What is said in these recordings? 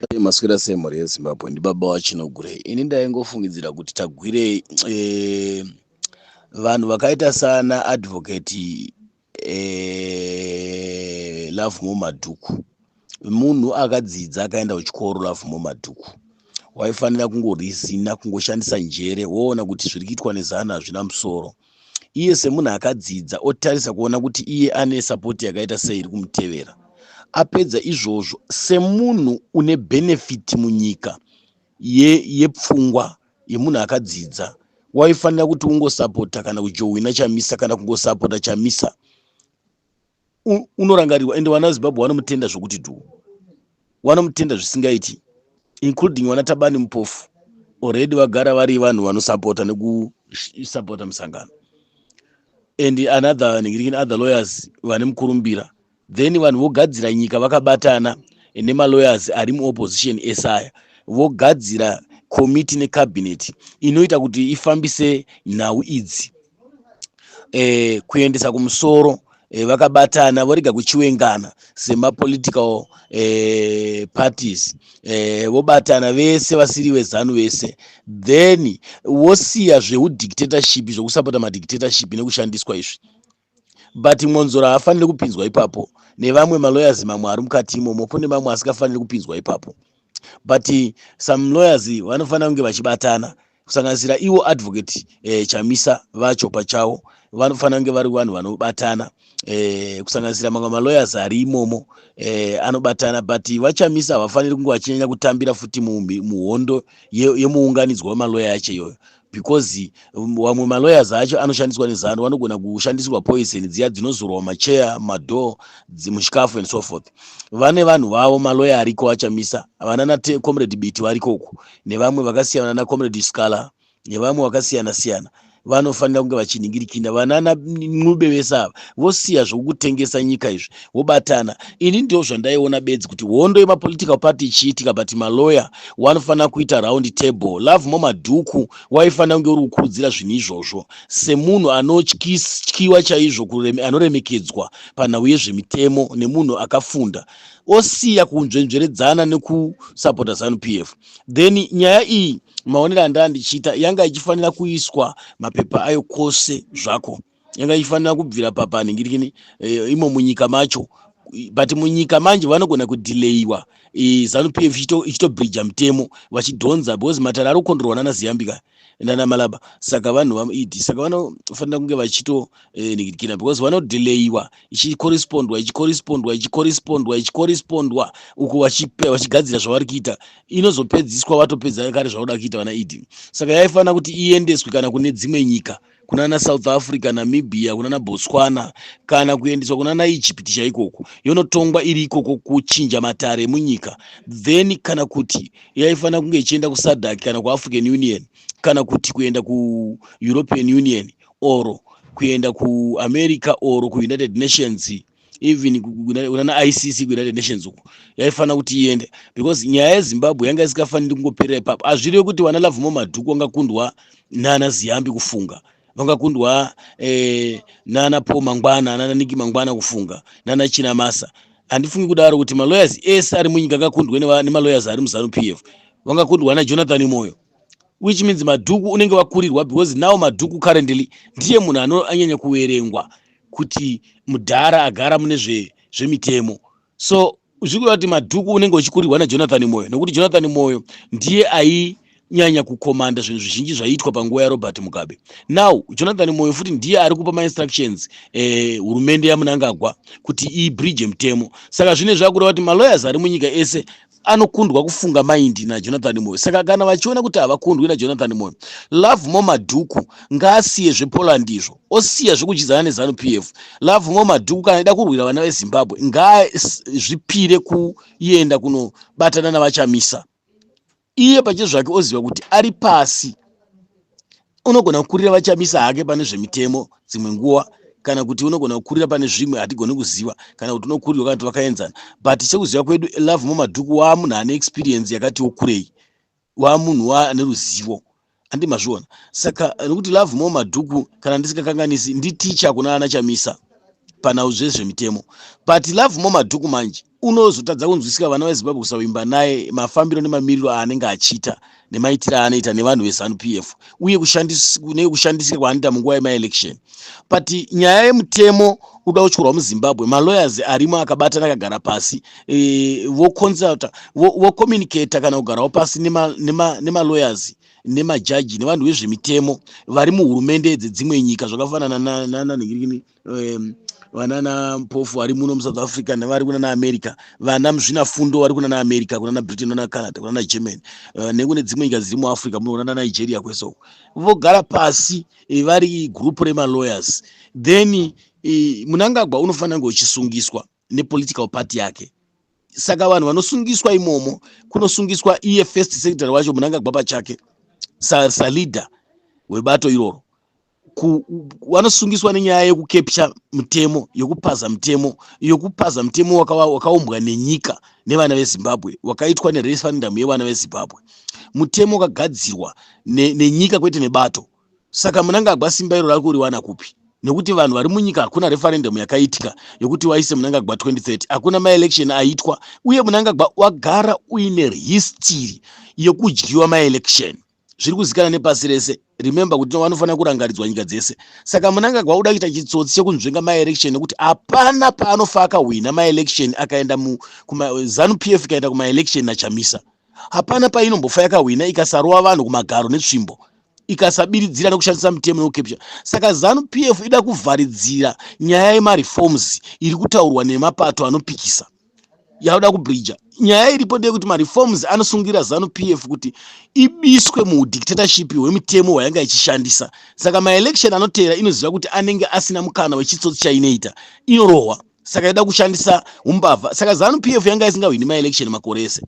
Dai maswera sei mhuri yezimbabwe ndibaba vachinogurei ini ndaingofungidzira kuti tagwirei eh, vanhu vakaita sana advocate eh, love mo madhuku munhu akadzidza akaenda kuchikoro love mo madhuku waifanira kungorizina kungoshandisa njere woona kuti zviri kuitwa nezana hazvina musoro iye semunhu akadzidza otarisa kuona kuti iye ane sapoti yakaita sei iri kumutevera apedza izvozvo semunhu une bhenefiti munyika yepfungwa ye yemunhu akadzidza waifanira kuti ungosapota kana kujohwina chamisa kana kungosapota chamisa unorangarirwa ende vana vezimbabwe vanomutenda zvokuti dhuu vanomutenda zvisingaiti including vana tabani mupofu already vagara vari vanhu vanosapota nekusapota musangano and another ningirikini other lawyers vane mukurumbira then vanhu vogadzira nyika vakabatana nemalawyers ari muopposition esaya vogadzira komiti necabinet inoita kuti ifambise nhau idzi eh, kuendesa kumusoro eh, vakabatana vorega kuchiwengana semapolitical eh, parties eh, vobatana vese vasiri vezanu vese then wosiya zveudictatorship zvekusapota madictatorship nekushandiswa izvi but mwonzora haafaniri kupinzwa ipapo nevamwe maloyers mamwe ari mukati imomo kune mamwe asikafaniri kupinzwa ipapo but some lawyers vanofanira kunge vachibatana kusanganisira ivo advocate eh, chamisa vacho pachavo vanofanira kunge vari vanhu vanobatana eh, kusanganisira mamwe malawyers ari imomo eh, anobatana but vachamisa havafaniri kunge vachinyanya kutambira futi muhondo yemuunganidzwa ye wemaloya acho iyoyo because um, vamwe um, malawyers acho anoshandiswa nezanu vanogona kushandisirwa poison dziya dzinozorwa macheya madoor muchikafu and so forth vane vanhu vavo maloya ariko achamisa vanana comrade biti variko uku nevamwe vakasiyana na comrade scalar nevamwe vakasiyana siyana vanofanira kunge vachinhingirikina vanana ncube vese ava vosiya zvokutengesa nyika izvi vobatana ini ndo zvandaiona bedzi kuti hondo yemapolitical party ichiitika but maloya wanofanira kuita round table love mo madhuku waifanira kunge uri kukurudzira zvinhu izvozvo semunhu anotyiwa chaizvo anoremekedzwa panhau yezvemitemo nemunhu akafunda osiya kunzvenzveredzana nekusapota zanu p f then nyaya iyi maonero andaa ndichiita yanga ichifanira kuiswa mapepa ayo kwose zvako yanga ichifanira kubvira papanhingirikini eh, imo munyika macho but munyika manje vanogona kudelayiwa eh, zanu p f ichitobridja mitemo vachidhonza because matare ari kukondorwa nana ziyambika nana malaba saka vanhu vamued saka vanofanira kunge vachitonikidikina eh, because vanodelayiwa ichicorrespondwa ichicorrespondwa ichicorrespondwa ichicorrespondwa uku vachigadzira zvavari kuita inozopedziswa vatopedza kare zvauda kuita vana ed saka yaifanira kuti iendeswe kana kune dzimwe nyika kunana south africa namibia kunana botswana kana kuendeswa kunana egypt chaikoko yonotongwa iri ikoko kuchinja matare emunyika then kana kuti yaifanira kunge ichienda kusadak kana kuafrican union kana kuti kuenda kueuropean union or kuenda kuamerica or kuunited nations even kunana icc kuunited nations uku yaifanira kuti iende because nyaya yezimbabwe yanga isikafaniri kungoperera ipapo hazvirevi kuti vana lavhumo madhuku vangakundwa nana ziyambi kufunga vangakundwa eh, nana paul mangwana nana niki mangwana kufunga nana china masa handifungi kudaro kuti malawyers ese ari munyika angakundwe nemalawyers ari muzanu p f vangakundwa najonathan moyo which means madhuku unenge wakurirwa because now madhuku currently ndiye munhu anoanyanya kuverengwa kuti mudhara agara mune zvemitemo so zvikureva kuti madhuku unenge uchikurirwa najonathan moyo nokuti jonathan moyo ndiye ainyanya kukomanda zvinhu zvizhinji zvaiitwa panguva yarobert mugabe now jonathan moyo futi ndiye ari kupa mainstructions eh, hurumende eh, yamunangagwa kuti ibridge mutemo saka zvine zvakureva kuti malawyers ari munyika ese anokundwa kufunga maindi najonathan moyo saka kana vachiona kuti havakundwi najonathan moyo love mo madhuku ngaasiye zvepoland izvo osiya zvekudyidzana nezanu p f love mo madhuku kana ida kurwira vana vezimbabwe ngaazvipire kuenda kunobatana navachamisa iye pache zvake oziva kuti ari pasi unogona kukurira vachamisa hake pane zvemitemo dzimwe nguva kana kuti unogona kukurira pane zvimwe hatigoni kuziva kana kuti unokurirwa kana kuti vakaenzana but sekuziva kwedu love mumadhuku waa munhu ane experience yakati wokurei waa munhu waa ane ruzivo andi mazviona saka nokuti love mo madhuku kana ndisikakanganisi nditicha kuna ana chamisa panhau zvezvemitemo but love mo madhuku manje unozotadza kunzwisika vana vezimbabwe kusavimba naye mafambiro nemamiriro aanenge achiita nemaitiro aanoita nevanhu vezanup f uye kune kushandisika kwaanoita munguva yemaelection but nyaya yemutemo uda kutyorwa muzimbabwe malawyers arimo akabatana akagara pasi e, voconsulta vocommunicata kana kugarawo pasi nemalawyers nema, nema nemajaji nevanhu vezvemitemo vari muhurumende dzedzimwe nyika zvakafanana nananhingirikini na, na, na, um, vanana mpofu vari muno musouth africa nevari kunana america vana muzvina fundo vari kunana america kunana britain kunana canada kunana germany uh, nekune dzimwe nyika dziri muafrica muno kunana nigeria kwese uko vogara pasi eh, vari group remalawyers then eh, munangagwa unofanira kunge uchisungiswa nepolitical party yake saka vanhu vanosungiswa imomo kunosungiswa iye first secretary wacho munangagwa pachake saleader webato iroro vanosungiswa nenyaya yekukepcha mutemo yekupaza mutemo yekupaza mutemo wakaumbwa nenyika nevana vezimbabwe wakaitwa nereferendamu yevana vezimbabwe mutemo wakagadzirwa nenyika kwete nebato saka munangagwa simba iro rari kuriwana kupi nekuti vanhu vari munyika hakuna referendamu yakaitika yekuti waise munangagwa 2030 hakuna maelection aitwa uye munangagwa wagara uine histiri yekudyiwa maelection zviri kuzikana nepasi rese remember kuti vanofanira kurangaridzwa nyika dzese saka munangagwa uda kuita chitsotsi chekunzvenga maelection nekuti hapana paanofa akahwina maelection akaenda zanu p f ikaenda kumaelection nachamisa hapana painombofa yakahwina ikasarova vanhu kumagaro netsvimbo ikasabiridzira nekushandisa mitemo yokepsha saka zanu p f ida kuvharidzira nyaya yemareforms iri kutaurwa nemapato anopikisa yauda kubridger nyaya iripo ndeyekuti mareforms anosungira zanu p f kuti ibiswe muudictatorship hwemitemo hwayanga ichishandisa saka maelection anoteera inoziva kuti anenge asina mukana wechitsotsi chainoita inorohwa saka ida kushandisa umbavha saka zanu p f yanga isingahwini maelection makore ese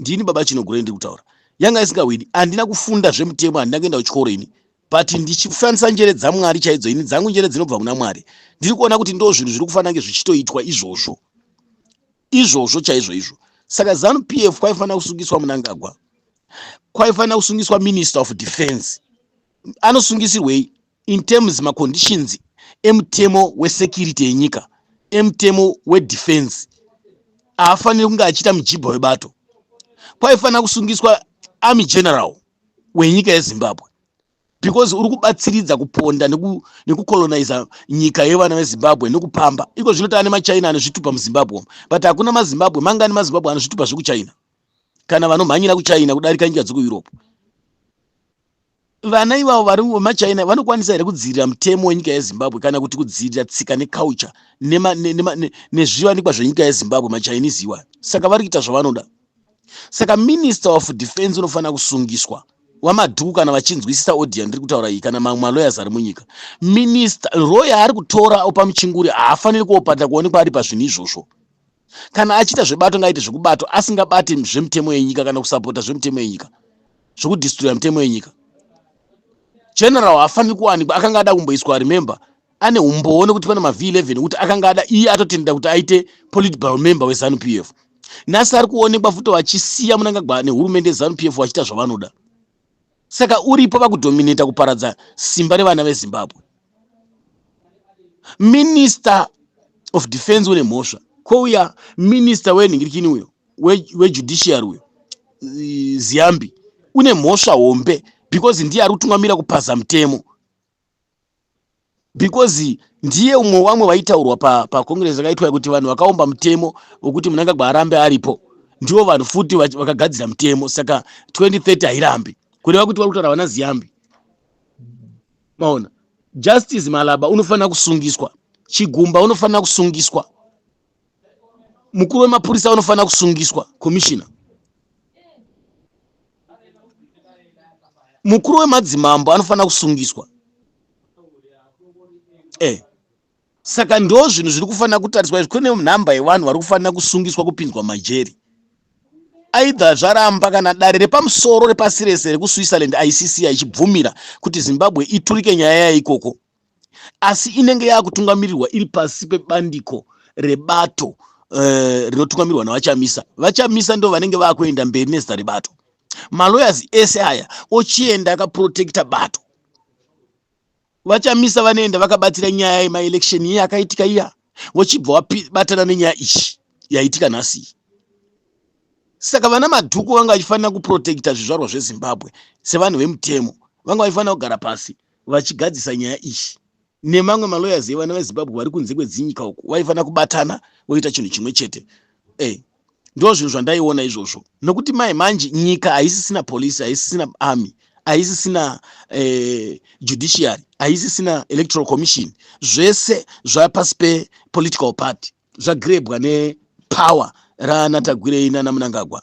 ndini baba chinogure ndiri kutaura yanga isingawini handina kufunda zvemutemo handina kuenda kuchikoro ini but ndichifanisa njere dzamwari chaidzo ini dzangu njere dzinobva kuna mwari ndiri kuona kuti ndo zvinhu zviri kufanira kunge zvichitoitwa izvozvo izvozvo chaizvo izvo saka zanu p f kwaifanira kusungiswa munangagwa kwaifanira kusungiswa minister of defense anosungisirwei in terms maconditions emutemo wesecurity yenyika emutemo wedefense haafaniri kunge achiita mujibha webato kwaifanira kusungiswa army general wenyika yezimbabwe because uri kubatsiridza kuponda nekucoloniza neku nyika yevana vezimbabwe nekupamba iko zvino taane machina anozvitupa muzimbabwe but hakuna mazimbabwe mangani mazimbabwe anozvitupa zvekuchina kana vanomhanyira kuchina kudarika nyika dzekueurope vana ivavo vari vemachina vanokwanisa here kudzivirira mutemo wenyika yezimbabwe kana kuti kudzivirira tsika neculture nezvivanikwa zvenyika yezimbabwe machinese iwa saka vari kuita zvavanoda saka minister of defense unofanira kusungiswa wamadhuku kana vachinzwisisa audio yandiri kutaura iyi kana mamwe malawyers ari munyika minister roya ari kutora opa muchinguri haafaniri kuopata kuonekwa ari pazvinhu izvozvo kana achiita zvebato ngaaite zvekubato asingabati zvemutemo yenyika kana kusapota zvemutemo yenyika zvekudistroya mutemo yenyika general haafaniri kuwanikwa akanga ada kumboiswa remember ane umbowo nekuti pane mav 11 ekuti akanga ada iye atotenda kuti aite political member wezanu p f nhasi ari kuonekwa futi vachisiya munangagwa nehurumende yezanu p f vachiita zvavanoda saka uripo vakudominata kuparadza simba revana vezimbabwe minister of defense une mhosva kwouya minister wenhingirikini uyo wejudiciary uyo ziyambi une mhosva hombe because ndiye ari kutungamira kupaza mutemo because ndiye umwe wamwe vaitaurwa pacongress pa yakaitwa kuti vanhu vakaumba mutemo wekuti munangagwa arambe aripo ndivo vanhu futi vakagadzira mutemo saka 2030 hairambi kureva kuti vari kutaura vana ziyambi maona justice malaba unofanira kusungiswa chigumba unofanira kusungiswa mukuru wemapurisa vanofanira kusungiswa komishina mukuru wemadzimambo anofanira kusungiswa eh. saka ndo zvinhu zviri kufanira kutariswa izvi kune nhamba yevanhu vari kufanira kusungiswa kupinzwa majeri aidha zvaramba kana dare repamusoro repasi rese rekuswitzerland icc ichibvumira kuti zimbabwe iturike nyaya yayo ikoko asi inenge yaakutungamirirwa iri pasi pebandiko rebato eh, rinotungamirwa uh, navachamisa vachamisa ndo vanenge vaakuenda mberi nezita rebato malawyers ese aya ochienda akaprotecta bato vachamisa vanoenda vakabatsira nyaya yemaelection iye akaitika iya vochibva wabatana nenyaya ichi yaitika nhasii saka vana madhuku vanga vachifanira kuprotecta zvizvarwa zvezimbabwe sevanhu vemutemo vanga vachifanira kugara pasi vachigadzisa nyaya iyi nemamwe malawyers evana vezimbabwe vari kunze kwedzinyika uku vaifanira kubatana voita chinhu chimwe chete e ndo zvinhu zvandaiona izvozvo nokuti mai manje nyika haisisina police haisisina army haisisina eh, judiciary haisisina electoral commission zvese zvapasi pepolitical party zvagrebwa nepower raanatagwirei nanamunangagwa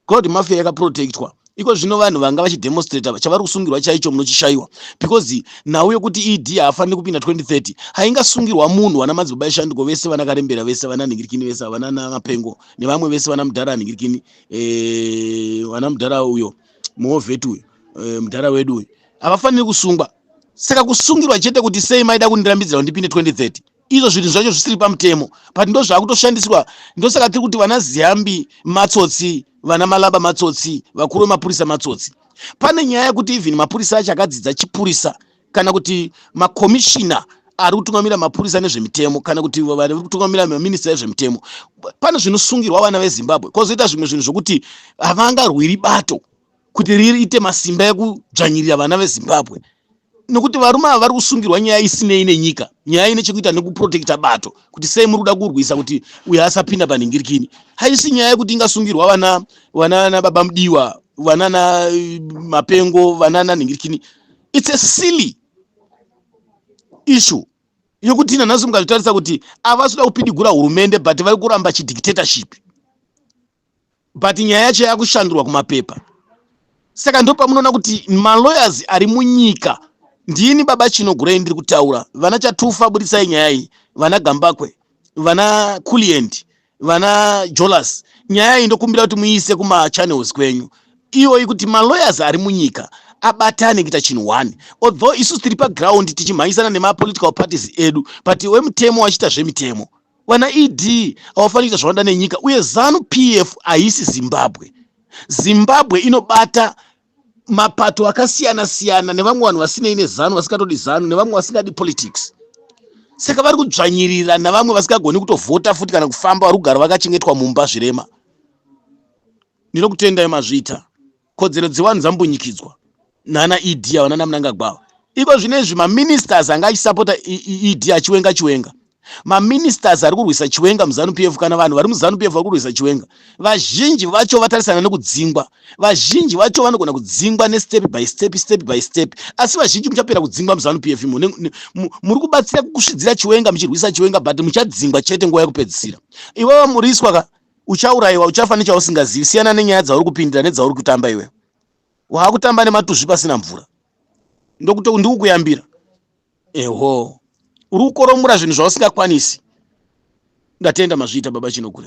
cloud mafia yakaprotectwa iko zvino vanhu vanga vachidemonstrata chavari kusungirwa chaicho munochishaiwa because nhau yokuti ed haafaniri kupinda 2030 haingasungirwa munhu vana madzibaba eshanduko vese vana karembera vese vana nhingirikini vese havana namapengo nevamwe vese vana mudhara anhingirikini eh, vana mudhara uyo muhovheti uyo eh, mudhara wedu uyo havafaniri kusungwa saka kusungirwa chete kuti sei maida kundirambidzira kundipinde 2030 izvo zvinhu zvacho zvisiri pamutemo but ndo zvaakutoshandiswa ndosaka tiri kuti vana ziyambi matsotsi vana malaba matsotsi vakuru vemapurisa matsotsi pane nyaya yekuti even mapurisa acho akadzidza chipurisa kana kuti makomishina ari kutungamira mapurisa nezvemitemo kana kuti vari kutungamira maminista ezvemitemo pane zvinosungirwa vana vezimbabwe kwozoita zvimwe zvinhu zvokuti havangarwiri bato kuti riite masimba ekudzvanyirira vana vezimbabwe nekuti varume ava vari kusungirwa nyaya isinei nenyika nyaya ine chekuita nekuprotekta bato kuti sei muri kuda kurwisa kuti uyo asapinda panhingirikini haisi nyaya yekuti ingasungirwa vana vanana baba mudiwa vanana eh, mapengo vanana nhingirikini its a silly issue yekuti nanhasi mukazvitarisa kuti avasi kuda kupidigura hurumende but vari kuramba chidictatorship but nyaya yacho yakushandurwa kumapepa saka ndopamunoona kuti malawyers ari munyika ndini baba chino gurei ndiri kutaura vana chatufa budisai nyaya iyi vana gambakwe vana kuliendi vana jolas nyaya iyi ndokumbira kuti muiise kumachannels kwenyu iyoyi kuti malawyers ari munyika abatane kuita chinhu one although isu tiri paground tichimhanyisana nemapolitical parties edu but wemutemo wachiita zvemitemo Vana ED havafaniri kuita zvavanoda nenyika uye zanu PF haisi Zimbabwe. Zimbabwe inobata mapato akasiyana siyana nevamwe vanhu vasinei nezanu vasingatodi zanu nevamwe vasingadi politics saka vari kudzvanyirira navamwe vasingagoni kutovhota futi kana kufamba vari kugara vakachengetwa mumba zvirema ndinokutendai mazvita kodzero dzevanhu dzambunyikidzwa nana ed ava nana munangagwava iko zvino izvi maministers anga achisapota ed achiwenga chiwenga maministers ari kurwisa chiwenga muzanu p f kana vanhu vari muzanu p f vari kurwisa chiwenga vazhinji vacho vatarisana nekudzingwa vazhinji vacho vanogona kudzingwa nestep by step step by step asi vazhinji muchapera kudzingwa muzanu p f imo muri kubatsira kusvidzira chiwenga muchirwisa chiwenga but muchadzingwa chete nguva yekupedzisira ivava muriswa ka uchaurayiwa uchafa nechausingazivi siyana nenyaya dzauri kupindira nedzauri kutamba iwe waakutamba nematuzvi pasina mvura ndokuti ndikukuyambira eho uri kukoromora zvinhu zvausingakwanisi ndatenda mazviita baba chinogure